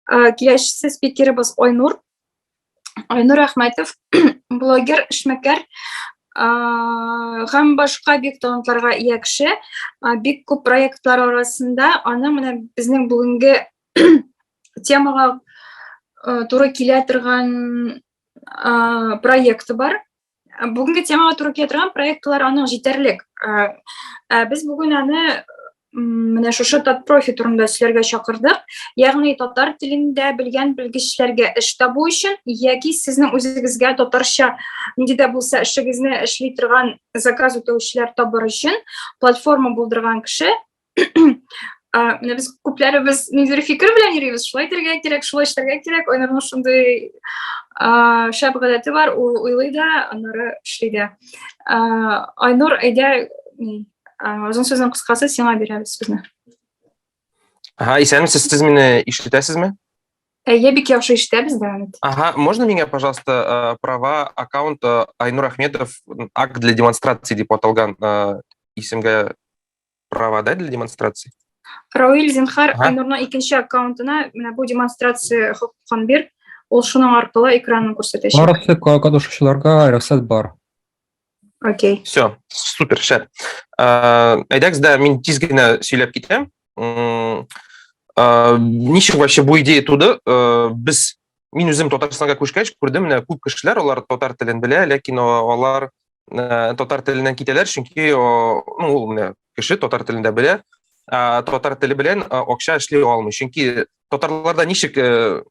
Э, киләчәсе спикерыбыз Айнур. Айнур Әхмәтов, блогер, эшмәкәр э, һәм башка бик талантларга ия кеше. Э, бик күп проектлар арасында аның менә безнең бүгенге темага туры килә торган проекты бар. бүгенге темага туры килә торган проектлар аның җитәрлек без бүген аны менә шушы татпрофи турында сөйләргә чакырдык ягъни татар телендә белгән белгечләргә эш табу өчен яки сезнең үзегезгә татарча нинди дә булса эшегезне эшли торган заказ үтәүчеләр табыр өчен платформа булдырган кеше менә без күпләребез ниндидер фикер белән йөрибез шулай итәргә кирәк шулай эшләргә кирәк айнурның шундый шәп гадәте бар ул уйлый да аннары эшли дә айнур әйдә озын сүзнең кыскасы сиңа бирәбез сүзне ага исәнмесез сез мине ишетәсезме я бик яхшы ишетәбез да ага можно меня пожалуйста права аккаунт айнур ахметов акт для демонстрации деп аталган исемгә права, да, для демонстрации? Рауиль, зинхар, ага. Айнурның икенче аккаунтына менә бу демонстрация хокукын бир, ул шуның аркылы экранын күрсәтәчәк. Барысы катнашучыларга рөхсәт бар. Окей. Okay. Все, супер, шәп. Әйдәгез дә мин тиз генә сөйләп китәм. Ничек вообще бу идея туды? Без мин үзем татарстанга күчкәч күрдем менә күп кешеләр алар татар телен белә ләкин алар э, татар теленнән китәләр чөнки ну ул менә кеше татар телен дә белә ә, татар теле белән э, акча эшли алмый чөнки татарларда ничек э,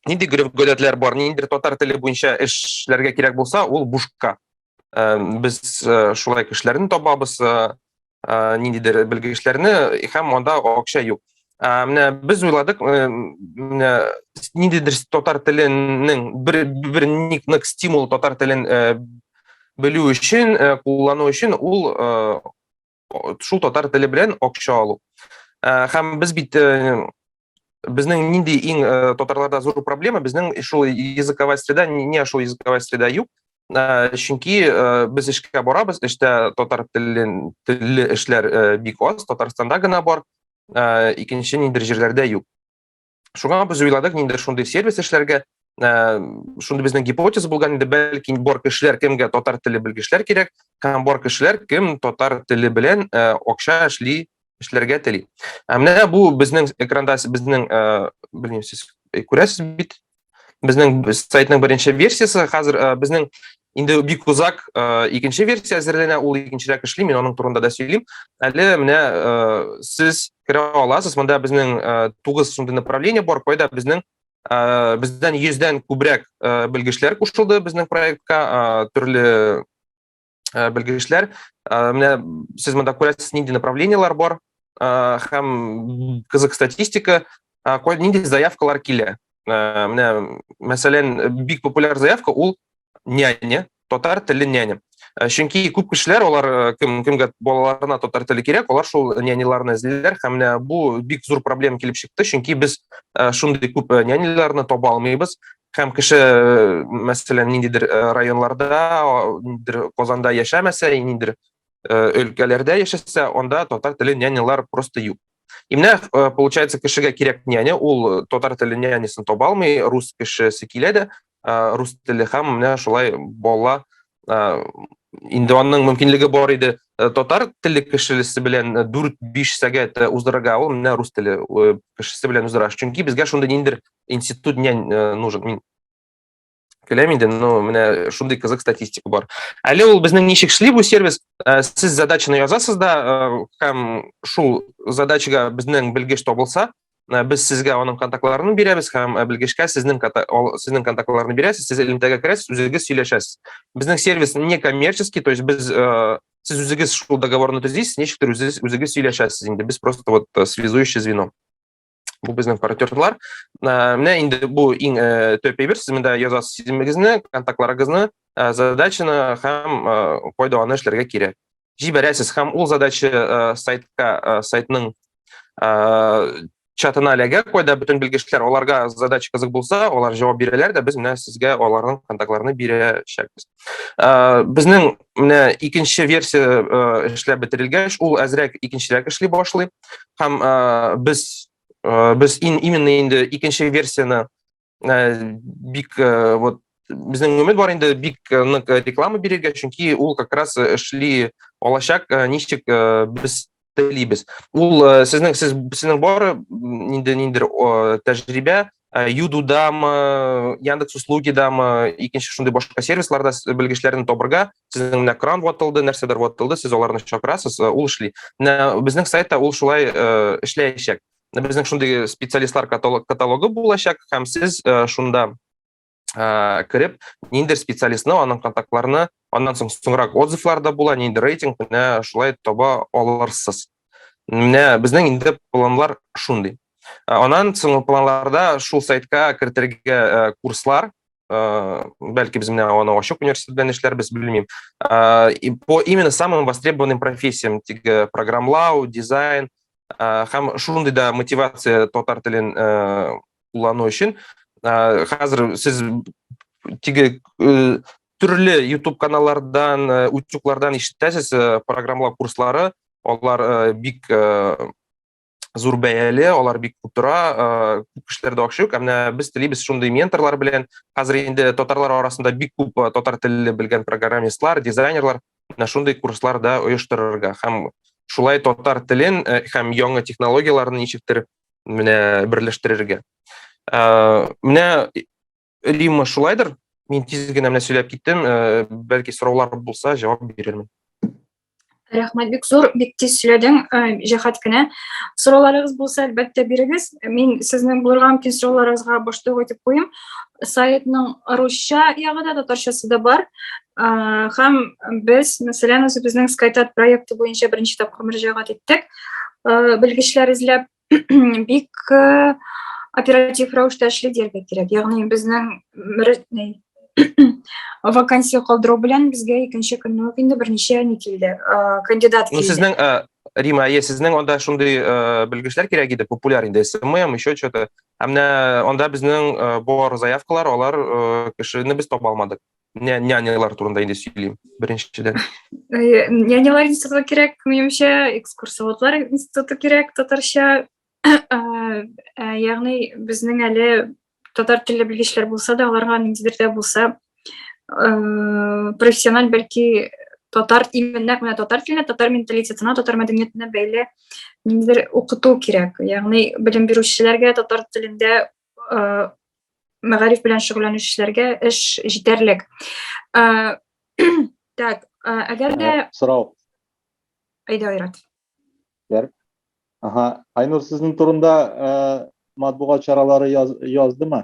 нинди гореф-гадәтләр бар ниндидер татар теле буенча эшләргә кирәк булса ул бушка без шулай кешеләрне табабыз ниндидер белгечләрне һәм анда акча юк менә без уйладык менә ниндидер татар теленең бер бер ник стимул татар телен белү өчен куллану өчен ул шул татар теле белән акча алу. Э, һәм без бит э, безнең нинди иң э, татарларда зур проблема, безнең шул языковая среда, не шул языковая среда юк. Чөнки без эшкә барабыз, эштә татар телен телле эшләр бик аз, Татарстанда гына бар, икенче ниндидер җирләрдә юк. шуңа без уйладык ниндидер шундый сервис эшләргә э, шундый безнең гипотеза булган инде бәлки бар кешеләр кемгә татар теле белгечләр кирәк һәм бар кешеләр кем татар теле белән э, акча эшли эшләргә тели ә менә бу безнең экранда безнең э, белмим сез күрәсез бит Безнең сайтның беренче версиясе хәзер э, безнең инде бик узак э, икенче версия әзерләнә, ул икенчерәк эшли, мин аның турында да сөйлим. Әле менә э, сез керә аласыз, монда безнең 9 шундый направление бар, кайда безнең бездән 100 дән күбрәк белгечләр кушылды безнең проектка, төрле ә, белгечләр. Ә, менә сез монда күрәсез, нинди направлениелар бар ә, һәм кызык статистика, ә, нинди заявкалар килә. Ә, менә, мәсәлән, бик популяр заявка ул няня, татар теле няня. Ә, чөнки күп кешеләр алар ә, кем кемгә балаларына татар теле кирәк, алар шул няняларны эзлиләр һәм менә бу бик зур проблема килеп чыкты, чөнки без ә, шундый күп няняларны таба алмыйбыз. һәм кеше э, мәсәлән ниндидер э, районларда ниндидер казанда яшәмәсә ниндидер э, өлкәләрдә яшәсә анда татар теле нянялар просто юк и менә получается кешегә кирәк няня ул татар теле нянясын таба алмый рус кешесе килә дә рус теле һәм менә шулай бала инде аның мөмкинлеге бар иде э, татар телле кешесе белән 4-5 э, сәгать э, уздырырга ул менә рус теле кешесе белән уздыра чөнки безгә шундый ниндер институт не э, нужен мин көләм инде но менә шундый кызык статистика бар әле ул безнең ничек шли бу сервис э, сез задачаны язасыз да э, һәм шул задачага безнең белгеч табылса Э, без сезгә аның контактларын бирәбез һәм э, белгечкә сезнең сезнең контактларын бирәсез сез элемтәгә керәсез үзегез сөйләшәсез безнең сервис не коммерческий то есть без э, сез үзегез шул договорны төзисез ничектер үзегез сөйләшәсез инде без просто вот связующий звено бу безнең партнерлар. Ә, менә инде бу иң ә, төп әйбер, сез монда язасыз исемегезне, контактларыгызны, ә, задачаны һәм ә, кайда аны эшләргә кирәк. Җибәрәсез һәм ул задача ә, сайтка, ә, сайтның ә, чатына эләгә, кайда бөтен белгечләр, аларга задача кызык булса, алар җавап бирәләр дә, без менә сезгә аларның контактларын бирәчәкбез. Ә, безнең менә икенче версия э, эшләп бетерелгәч ул әзрәк икенчерәк эшли башлый һәм э, без э, без ин, именно инде икенче версияны бик вот безнең өмет бар инде бик нык реклама бирергә чөнки ул как раз эшли алачак ничек без телибез. Ул э, сезнең сез сезнең бар э, инде ниндер тәҗрибә э, Юдудамы, Яндекс услугидамы, икенче шундый башка сервисларда белгечләрне табырга, сезнең менә кран ватылды, нәрсәдер ватылды, сез аларны чакырасыз, ул эшли. Менә безнең сайтта ул шулай эшләячәк. Безнең шундый специалистлар каталогы булачак һәм сез шунда ә, кереп ниндер специалистны аның контактларны аннан соң соңрак отзывлар да була ниндер рейтинг менә шулай таба алырсыз менә безнең инде планлар шундый ә, аннан соң планларда шул сайтка кертергә ә, курслар Э, бәлки без менә аны ачык университет белән эшләрбез белмим э, и по именно самым востребованным профессиям теге программлау дизайн э, һәм шундый да мотивация татар телен куллану өчен ә, хәзер сез теге э, төрле YouTube каналлардан, э, утюклардан ишетәсез э, программлау курслары, алар э, бик зур бәяле, алар бик күп тора, күп кешеләрдә акча юк. Ә менә без телибез шундый менторлар белән. Хәзер инде татарлар арасында бик күп татар телле белгән программистлар, дизайнерлар менә шундый курслар да оештырырга һәм шулай татар телен һәм яңа технологияләрне ничектер менә берләштерергә. Ә, менә Рима шулайдыр. Мин тиз генә менә сөйләп киттем. Ә, бәлки сораулар булса, җавап бирермен. Рәхмәт бик зур, бик тиз сөйләдең, э, җәһәт кенә. Сорауларыгыз булса, әлбәттә бирегез. Мин сезнең булырга мөмкин сорауларыгызга баштык итеп куйым. Сайтның русча ягы да, татарчасы да бар. Һәм без, мәсәлән, үзебезнең SkyTat проекты буенча беренче тапкыр мөрәҗәгать иттек. э, белгечләр эзләп бик э, оператив рәвештә эшли дияргә кирәк ягъни безнең вакансия калдыру белән безгә икенче көнне үк инде берничә не килде э, кандидат ну, килде сезнең рима әйе сезнең анда шундый белгечләр кирәк иде популяр инде смм еще что то ә менә анда безнең бар заявкалар алар кешене без таба алмадык Менә нянялар турында инде сөйлим, беренчедән. Э, нянялар институты кирәк, минемчә, экскурсоводлар институты кирәк, татарча. Э, э, ягъни безнең әле татар телле белгечләр булса да, аларга ниндидер дә булса профессиональ бәлки татар именно менә татар теленә, татар менталитетына, татар мәдәниятенә бәйле ниндидер укыту кирәк. Ягъни белем бирүчеләргә татар телендә э, мәгариф белән шөгыльләнүчеләргә эш җитәрлек. Э, так, э, әгәр дә... Э, сорау. Әйдә, Айрат. Бәр. Ага, Айнур, сезнең турында матбугат чаралары яз, яздымы?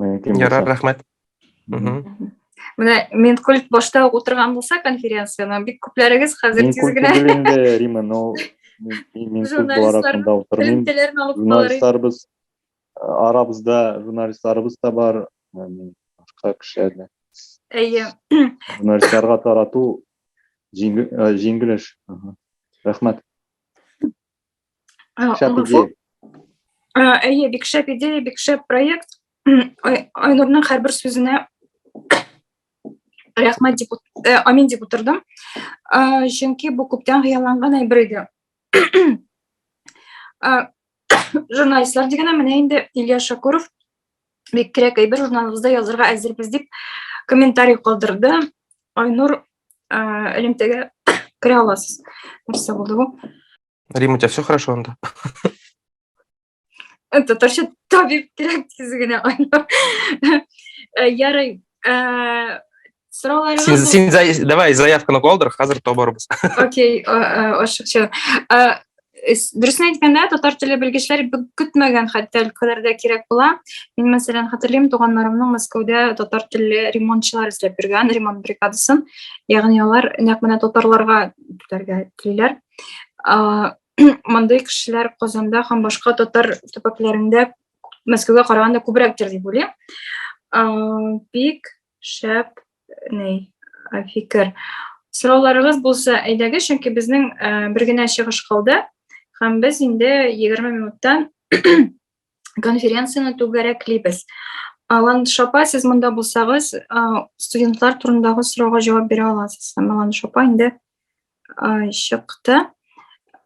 мөмкин Ярар, булса. рәхмәт. Мгм. Мгм. Менә Минкульт башта ук утырган булса конференцияне, бик күпләрегез хәзер Мин тиз культ генә түгел инде, Рима, но мин- мин мин культ бар Журналистлар- артында утырмыйм. элемтәләрен алып калыр. Журналистларыбыз, э, арабызда журналистларыбыз да бар, м, башка кешеләр дә. Әйе. Журналистларга тарату җиңел, э, җиңел эш. Мгм. Рәхмәт. Э, шәп идея. Э, әйе, бик шәп идея, бик шәп проект. Айнурның һәрбер сүзенә рәхмәт дип э, амин дип утырдым. Чөнки бу күптән хыялланган әйбер иде. Журналистлар дигәнә менә инде Илья Шакуров бик кирәк әйбер журналыбызда язырга әзербез дип комментарий калдырды айнур элемтәгә керә аласыз нәрсә булды бу рима у тебя все хорошо анда татарча табиб кирәк тиз генә айнур ярый Сорауларыгыз Син, син зай- давай заявканы калдыр, хәзер табарбыз. Окей, о- о, ашыкчы. Э, с- Дөресен әйткәндә, татар теле белгечләре бик көтмәгән хәтта өлкәләрдә кирәк була. Мин, мәсәлән, хәтерлим, туганнарымның Мәскәүдә татар телле ремонтчылар эзләп йөргән, ремонт бригадасын. Ягъни алар нәкъ менә татарларга түләргә телиләр. А, Мондый кешеләр Казанда һәм башка татар төбәкләрендә Мәскәүгә караганда күбрәктер дип уйлыйм. А, Бик Шәп, ни, фикер. Сорауларыгыз булса, әйдәге, чөнки безнең бер генә чыгыш калды, һәм без инде 20 минуттан конференцияне түгәрәклибез. Алан Шапа, сез монда булсагыз, студентлар турындагы сорауга җавап бирә аласыз. Һәм Алан Шапа инде А, чыкты.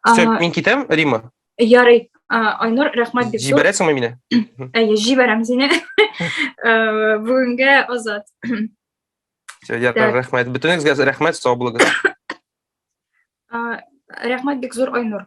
А, Все, мин китәм, Рима? Ярый, а, Айнур, рәхмәт бик зур. Җибәрәсеңме мине? Әйе, җибәрәм сине. Э, бүгенге азат. Все, яркар, рәхмәт. Бөтенегезгә рәхмәт, сау булыгыз. А, рәхмәт бик зур, Айнур.